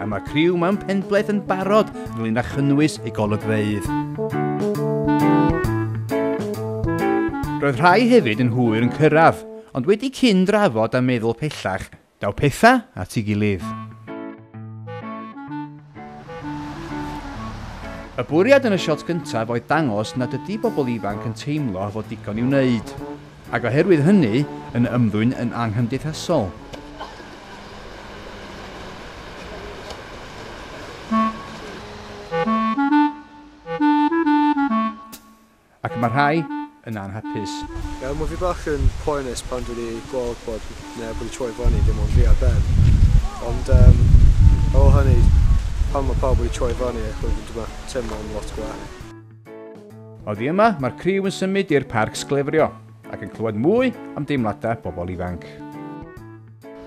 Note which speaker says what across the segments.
Speaker 1: A mae criw Mam Penbleth yn barod ynglyn â chynnwys y golygfeydd. Roedd rhai hefyd yn hwyr yn cyrraedd, ond wedi cyn drafod a meddwl pellach, daw pethau at ei gilydd. Y bwriad yn y shot gyntaf oedd dangos nad ydy pobl ifanc yn teimlo fod digon i'w wneud. Ac oherwydd hynny, yn ymddwyn yn anghymdeithasol. Ac mae rhai yn anhapus. Ie, mae fi bach
Speaker 2: yn poenus pan dwi wedi gweld bod neb wedi troi fyny, dim ond fi a Ben. Ond um, ar ôl hynny, pan mae pawb wedi troi fyny, ac wedyn dwi'n teimlo'n lot gwell.
Speaker 1: Oddi yma, mae'r criw yn symud i'r parc sglefrio ac yn clywed mwy am deimladau pobl ifanc.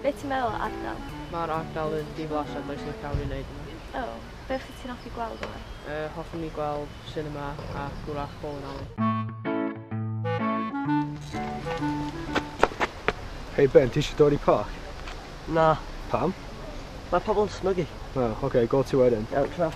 Speaker 3: Be ti'n meddwl o ardal? Mae'r ardal yn
Speaker 4: diflas a does neb iawn i wneud yma. O, be wyt ti'n
Speaker 3: hoffi gweld yma? Yy, hoffwn i gweld
Speaker 4: sinema a gwrach bowling alley.
Speaker 2: Hei Ben, ti eisiau dod i parc? Na.
Speaker 5: Pam?
Speaker 2: Mae pobl
Speaker 5: yn smygu. O, oh, oce, okay, go ti
Speaker 2: wedyn. Iawn, tra.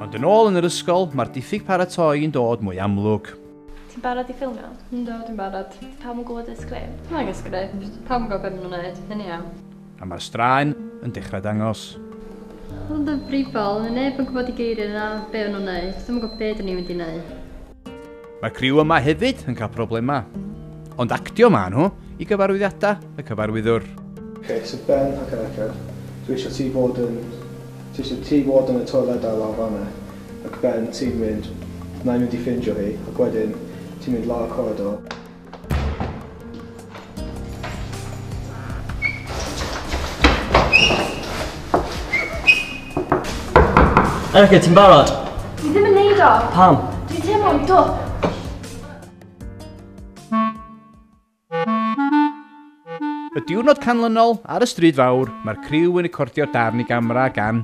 Speaker 1: Ond yn ôl yn yr ysgol, mae'r diffyg paratoi yn dod mwy amlwg. Ti'n barod i
Speaker 3: ffilmio? Yndw, dwi'n barod.
Speaker 6: Ydy pawb yn gwybod y sgript?
Speaker 3: Nag y sgript,
Speaker 6: pawb yn gwybod be maen nhw'n wneud, hynny iawn. A mae'r straen
Speaker 1: yn dechrau dangos. Hwn yn
Speaker 6: ddifrifol, fydd neb yn gwybod i geiriau na be o'n nhw'n wneud, dwi'm yn gwybod be dyn ni'n mynd i wneud. Mae
Speaker 1: criw yma hefyd yn cael problemau. Ond actio maen nhw i gyfarwyddiadau y cyfarwyddwr. Cei sydd
Speaker 2: Ben ac Erica, dwi eisiau ti fod yn, ti eisiau ti fod yn y toiledau lawr fan'na, ac Ben ti'n mynd, wna i mynd i ffindio hi, ac wedyn ti'n mynd lawr y coridor,
Speaker 5: Erica, ti'n barod? Dwi ddim yn neud
Speaker 3: o. Pam? Dwi'n teimlo'n dwp.
Speaker 1: Y diwrnod canlynol, ar y stryd fawr, mae'r criw yn recordio darn i gamera gan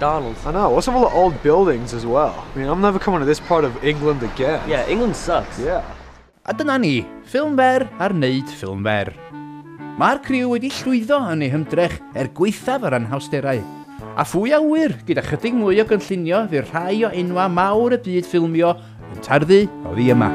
Speaker 5: Darn. I know, what's up
Speaker 2: with the
Speaker 5: old
Speaker 2: buildings as well? I mean, I'm never coming to this part of England again. Yeah, England sucks.
Speaker 5: Yeah. A
Speaker 2: dyna ni,
Speaker 1: ffilm fer ar wneud ffilm fer. Mae'r criw wedi llwyddo yn ei hymdrech er gweithaf yr anhawsterau. A phwy a ŵyr, gyda chydig mwy o gynllunio fydd rhai o enwau mawr y byd ffilmio yn tarddu oddi yma.